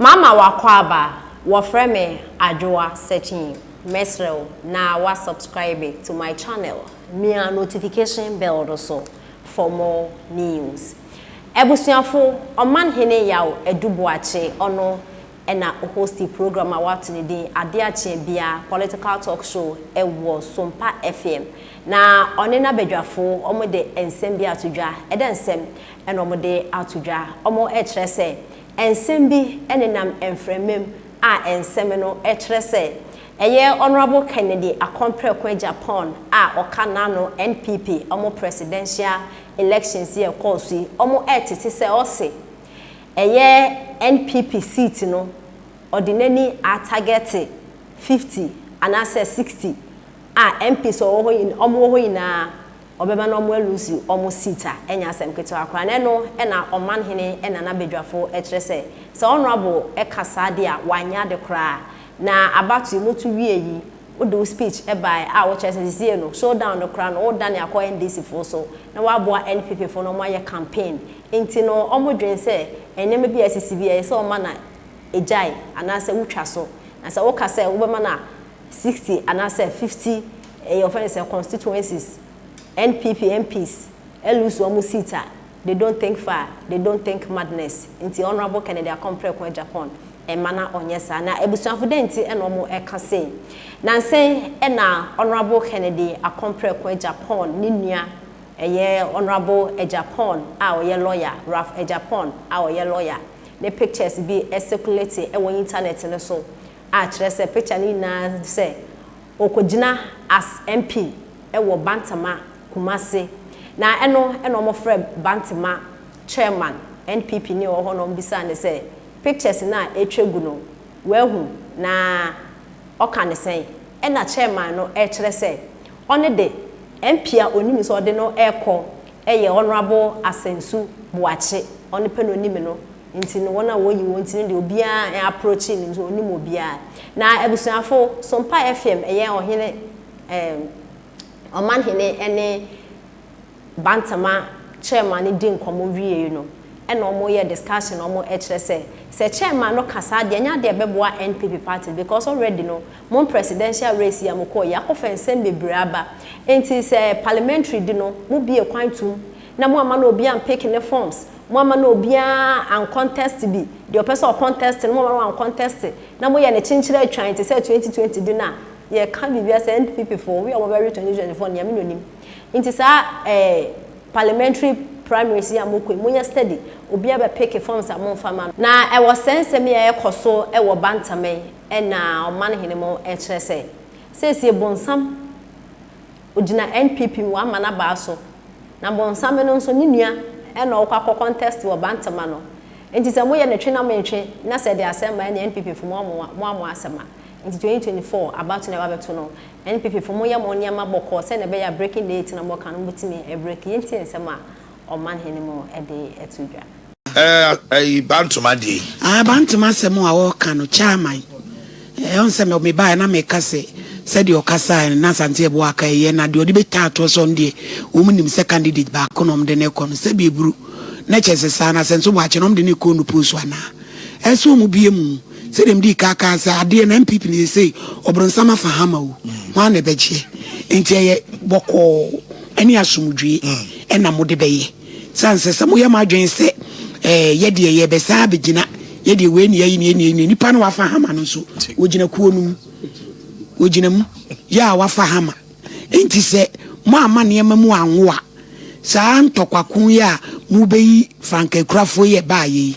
Mama w'akwaaba, wɔfrɛ me Adwoa Sekyii, mɛsrɛ wo na wa subscribe to my channel, mia notification bell no so for more news. Abusuafo, Ɔman Hene Yaw Adu Boakye ɔno na o hosti program a w'ato ne din Ade Akyea Bia political talk show wɔ Sompa FM, na ɔne n'abadwafo wɔde nsɛm bi ato dwa, ɛdɛ nsɛm na wɔde ato dwa, wɔkyerɛ sɛ Nsɛm bi nenam mframam a nsɛm no kyerɛ sɛ ɛyɛ Honourable Kennedy Akon Preko Agyapong a ɔka n'ano NPP wɔn presidential elections yi a ɛkɔɔ so yi wɔn retete sɛ ɔse ɛyɛ NPP seat no ɔde n'ani atargɛte fifty anaasɛ sixty a MPs a wɔwɔ hɔ nyinaa wɔn wɔ hɔ nyinaa Ɔbɛma na ɔmo aluusi ɔmo seat a ɛnyɛ asɛm ketewa koraa na ɛno na ɔman hene Nana Badwafo kyerɛ sɛ sɛ honourable ka saa deɛ a wanyɛ ade koraa a na abatoe mo to wie yi wode wo speech baeɛ a wokyerɛ sɛ sesie no show down no koraa no wodane akɔ NDC foɔ so na woaboa NPP foɔ na ɔmo ayɛ campaign nti no ɔmo dwene sɛ nneɛma bi a asisi bi ɛyɛ sɛ ɔma na ɛgyae anaasɛ wotwa so na sɛ woka sɛ wobɛma na sixty anaasɛ fifty ɛyɛ wɔfrɛ no sɛ constituencies NPP MPs lose wɔn seat a they don't think far they don't think madness nti Honourable Kennedy Akon Preko Agyapong mma na ɔnyɛ saa na abusuafo dɛn nti na wɔn ɛka sei nansen ɛna Honourable Kennedy Akon Preko Agyapong ne nua ɛyɛ Honourable Agyapong a ɔyɛ lawyer Ralph Agyapong a ɔyɛ lawyer ne pictures bi ɛcirculate ɛwɔ internet no so a kyerɛ sɛ picture no nyinaa sɛ ɔkɔgyina as MP wɔ Bantama Kumasi na ɛno na wɔfrɛ Bantama chairman NPP ni a ɔwɔ hɔ na wɔbisaa no sɛ pictures no a ɛtwa gu no wahu na ɔka no sɛn ɛna chairman no rekyerɛ sɛ ɔno de MP a ɔnim sɛ ɔde no rekɔ yɛ Honourable Asensu Boakye ɔno pɛ na ɔnim no Nti no wɔn a wɔyi wɔn ti no deɛ obiara ɛɛ approachi no nso ɔnim obiara. Na abusuafo, Sompa FM ɛyɛ ɔhene ɛɛm ɔmanhene ɛne Bantama chairman no di nkɔmɔ wiei no ɛna wɔn yɛ discussion na wɔn ɛkyerɛ sɛ, sɛ chairman no ka saa deɛ ɛnyɛ adeɛ a ɛbɛboa NPP party no because already no wɔn presidential race yi a wɔkɔɔ yi akɔfa nsɛm bebree aba. Nti sɛ parliamentary di no mobue kwan tum na mo amma no obi ampeke ne forms, mo amma no obiara ancontest bi, deɛ ɔpɛ sɛ ɔcontest no mo amma no wancontest, na moyɛ no kyenkyere atwan te sɛ 2020 de no a, yɛreka biribi asɛ NPP foɔ, wia wɔbɛwe 2024 no Nyame na onim. Nti saa eh, parliamentary primaries yi a mokɔ yi, monyɛ steady, obiara bɛpeke forms a momfa ma no. Na ɛwɔ sɛ nsɛm yi a ɛrekɔ so wɔ Bantam yi na Ɔmanhene mo kyerɛ sɛ, seesie bonsam Ogyina NPP mu aman abaa so. Na Bonsame no nso ne nua na ɔkɔ akɔ contest wɔ Bantama no. Nti sɛ moyɛ no twe na mentwe na sɛ ɛde asɛm ba ɛneɛ NPP fo moa mo asɛm a. Nti 2024 abato na ɛbabɛto no NPP fo monyɛ mo nneɛma bɔkɔɔ sɛdeɛ ɛbɛyɛ a breaking date na moka no mobɛtumi a break. Yɛntie nsɛm a ɔmanhene mu de to dwa. Ɛyi bantoma deɛ yi. Ae bantoma asɛm a ɔreka no chairman eh, ɔn sɛ me baeɛ na meka sɛ sɛdeɛ ɔkasaeɛ no na Asante Ɛboɔ aka ɛyɛ na deɛ ɔde bɛtaa toɔ sɛ ɔno deɛ wɔn nim sɛ candidate baako na wɔde no kɔ no sɛ deɛ buru na kyɛ sɛ saa na sɛ nso wɔakyɛ na wɔde no kɔ nupo so anaa ɛsɛ wɔn bie mu sɛdeɛ mede kaa kaa sɛ adeɛ na MPP ne sɛ ɔbronsam afa hama o ho a na ɛbɛgyeɛ nti ɛyɛ bɔkɔɔ ne asomdwoe na mode bɛyɛ. Sɛ ansɛ sɛ moyɛ mo adwene sɛ, Ɛɛ, yɛ deɛ, yɛrebɛsan abɛgyina, yɛ deɛ, wei na yɛayi no, yei na yɛayi no. Nnipa no a wɔafa hama no nso, wɔgyina kuo no mu. Wɔgyina mu. Yɛ a wɔafa hama. Enti sɛ moamma nneɛma mu anwo a, saa ntɔkwako yi a mobɛyi frankaakurafoɔ yi a ɛbaeɛ yi,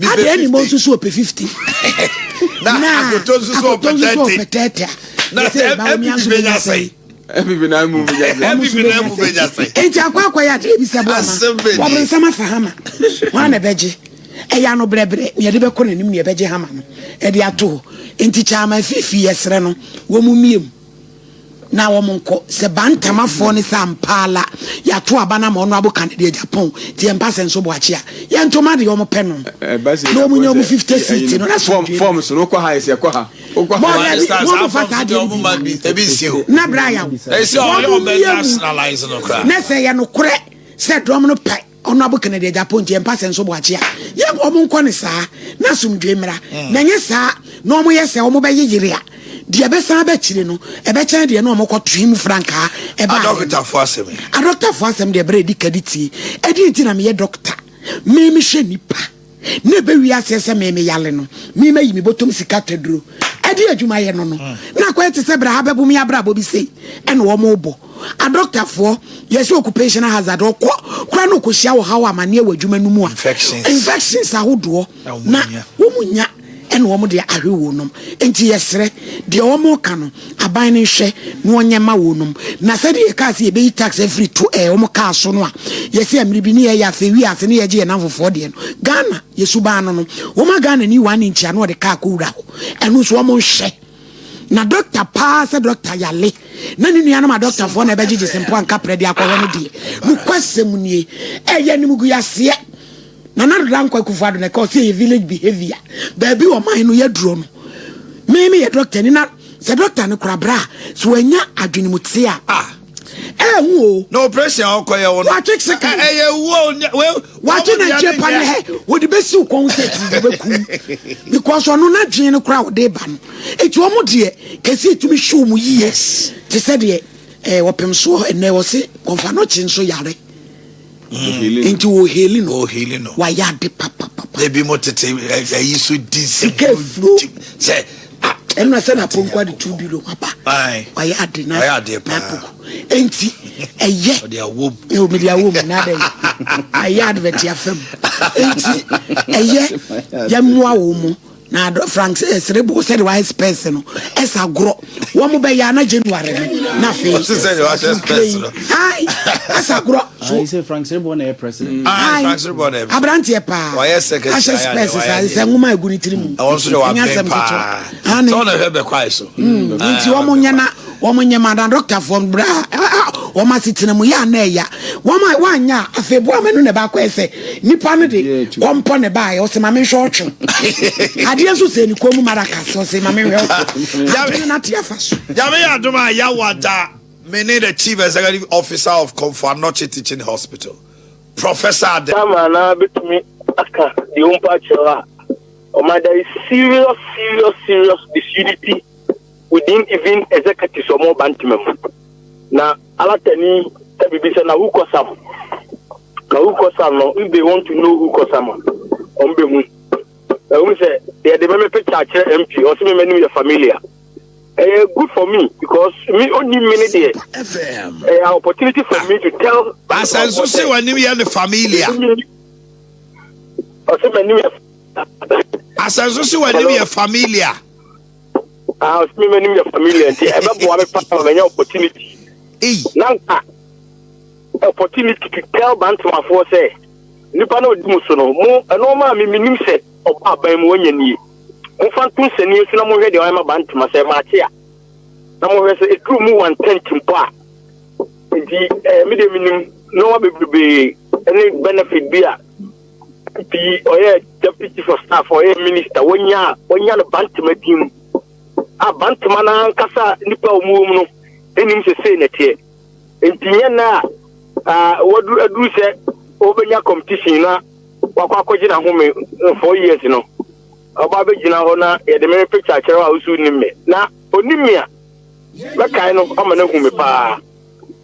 Adɛn ni mo nso so ɔpɛ fifty. Na akoto nso so ɔpɛ thirty. Na sɛ ɛbi bi bɛ nya sɛn. Ɛbi bi na mu bɛ nya sɛn. Ɛbi bi na mu bɛ nya sɛn. Nti akɔ akɔ yɛ adeɛ bi sɛ bɔ ama. Wɔbɛn nsɛm afa hama. Wɔn a na ɛbɛ gye. Ɛyɛ ano brɛbrɛ. Nea ɛde bɛ kɔ n'anim nea ɛbɛ gye hama no. Ɛde ato hɔ. Nti kyɛ ama fifi yɛ srɛ no. Wɔn mu mie mu. na wɔn nkɔ sɛ bantamafoɔ ne sɛ ampaala yɛato aba no ama ɔno abo kanadi agyapɔn nti yɛmpa sɛ nso boakye a yɛnto ma deɛ wɔn pɛ no na wɔn nyɛ wɔn fifty seat no na so dwe fɔm so no kɔ ha yɛsɛ kɔ ha bɔɔl yɛ bi wɔn mo fa saa deɛ no bi ebi nsi o na bra yaw wɔn mo yɛ mu na sɛ yɛ no korɛ sɛ dɔm no pɛ Honorable Kennedy Agyapong nti yɛmpa sɛ nso Boakyia yɛ wɔn nkɔ ne saa na asomdwoe mmra mm. na nyɛ saa na wɔn yɛ sɛ wɔn bɛyɛ yere a deɛ ɛbɛsan aba akyire no ɛbɛkyɛn deɛ na wɔn kɔ tui mu frankaa ɛba adɔkotafo asɛm adɔkotafo asɛm deɛ ɛbɛrɛ edi kadi tie ɛdi nti na meyɛ dɔkota mmɛmɛ hwɛ nipa. na ɛbɛwie aseɛ sɛ me meyale no me mayi me bɔtɔm sika taduro ɛde adwumayɛ no no mm. na akɔyɛ te sɛ berɛ ha bɛbo me abrabɔ bi sei ɛne wɔmobɔ adɔktafoɔ yɛsɛ occupational hazard ɔkɔ kora no ɔkɔhyia wɔ haw amanneɛ wɔ adwuma no mu a infections ahodoɔ na wɔmu nya ɛna wɔn de ahwe wɔn nom. Enti yɛsrɛ, deɛ wɔreka no, aban no nhwɛ na wɔnyɛ ma wɔn nom. Na sɛdeɛ yɛkaa sɛ yɛbɛyi tax afiri to ɛɛ wɔn kaa so no a, yɛsɛ mmere bi ne yɛyɛ ase, ewie ase ne yɛgye yɛn namfofoɔ deɛ no. Ghana, yɛn suban no no, wɔma Ghanani one inch a na wɔde kaa kɔwura hɔ. Ɛno nso wɔn nhwɛ. Na dɔkta paa sɛ dɔkta yale na ne nuanom adɔktafoɔ na ɛbɛgyegye sempo anka prɛ de akɔhwɛ no deɛ nokwasɛm nie ɛyɛ animguaseɛ Nana Ado Dankwa Akufo-Addo na ɛka ɔse ɛyɛ village behavior, baabi ɔman no yɛduro no. Me me yɛ doctor ni na sɛ doctor no kora bra a sɛ wanya adwene mu te a ah ɛyɛ hu o. Na operation a ɔkɔ yɛ wo no. Watwe se kan. Ɛyɛ wuo we. Watwe na nkyɛn pa ne hɛ wɔde bɛsi wo kɔn sɛ ti bɛku because ɔno na dwen no kora wɔde ba no. Eti wɔn deɛ kɛse etumi show mu yie te sɛ deɛ ɛɛ wɔpem soɔ ɛnɛ wɔse kɔnfa no kye nso yare. Mm, nti wɔ heli no wɔ heli no wayɛ ade papapapa ebi mo tete ayi so di sika efuro sɛ ɛnna sɛ na pɔnkɔ ade tu bi no waba wayɛ ade na n'apoko nti ɛyɛ ɛwɔ mi de awɔ mu na adɛ ayɛ adivɛti afɛm nti ɛyɛ yɛ mmoa wɔn mo. Na adɔ frank sɛ ɛsere bo sɛde wayɛ spɛs no ɛsa gorɔ wɔn bɛyɛ ana january no na afei ɛsa gorɔ aberanteɛ paa ahyɛ spɛs saa sɛ nwoma agu ne tiri mu ɛnyɛ asɛm ketewa nti wɔn nyɛ na Wɔn nyɛ ma n'adɔktafoɔ no berɛ a wɔn asetena mu yɛ a na ɛya. Wɔn a wɔanyɛ a, afei boa ma ɛno na ɛba akɔyɛ sɛ nipa no de kɔmpɔ na ɛbaeɛ. Ɔse ma menhwɛ ɔtwe adeɛ nso sɛ ne kɔn mu maracas. Ɔse ma menhwɛ ɔtwe adeɛ no n'ate afa so. Nyame yɛ adom a Yawah da me ne the Chief Executive Officer of Komfo Anokye Teaching Hospital, Professor Ade. Ama na bɛtumi aka deɛ ɔmpa akyerɛ wo a, ɔma there is serious serious serious disunity. we didn't even executives wɔn ɔba ntoma mu na alatani ɛbibi sɛ na who cause am na who cause am no if they want to know who cause am wɔn bɛ hu ɛhu sɛ deɛ de mɛmɛ picture akyerɛ mp ɔsɛ mɛmɛ nim yɛ familiar ɛyɛ good for me because me only me ne deɛ ɛyɛ opportunity for me to tell. asanso sɛ wɔn anim yɛ ne familiar. ɔsɛ mɛ anim yɛ. asanso sɛ wɔn anim yɛ familiar. Ah, ɔsɛ me m'anim yɛ familiar nti ɛbɛboa me paa ma manya opportunity. Ei. Na nka opportunity to tell Bantamafoɔ sɛ nipa na ɔdi mu so no mo ɛnɔɔma a me menim sɛ ɔba aban mu wɔnyɛ nie. Momfa nto nsɛnie so na mohwɛ deɛ wɔayɛ ma Bantama sɛ maakye a na mohwɛ sɛ ɛduru mu one tenth mpo a. Nti eh, me deɛ menim nneɛma bebrebe ne benefit bi a Nti ɔyɛ deputy chief of staff, ɔyɛ minister, wɔnya wɔnya no bantama din mu. A bantama no ankasa nipa a wɔn wɔ mu no anim sɛ sei na ɛteɛ. Nti nyɛ na a wɔadu aduru sɛ wɔbɛnya competition na wakɔ akɔgye n'ahome eh, four years no. Ɔba abɛgyina hɔ na yɛde me picture akyerɛ hɔ a wosu nim me. Na onim me a mɛkae no ama no ahu me paa.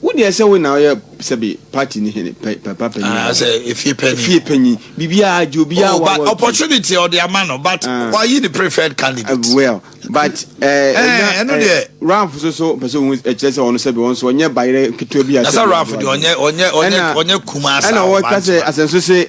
Wo deɛ sɛ wo na ɔyɛ sɛbi party ni hene pɛ pɛ pa panyin. Ah sɛ efie panyin. Efie panyin bibia agye obia oh, wa wa. Opportunity ɔde ama no but uh, wa yi the preferred candidate. Uh, well but ɛɛ eh, ɛɛ eh, ɛno eh, deɛ. Ralph so so pɛ sɛ ohun ɛkyerɛ sɛ ɔno sɛbi ɔno so ɔnyɛ bayerɛ ketewa bi asɛ. Nasa Ralph deɛ ɔnyɛ ɔnyɛ ɔnyɛ ɔnyɛ kumasa. Ɛna ɔwɔ kasɛ asɛnso se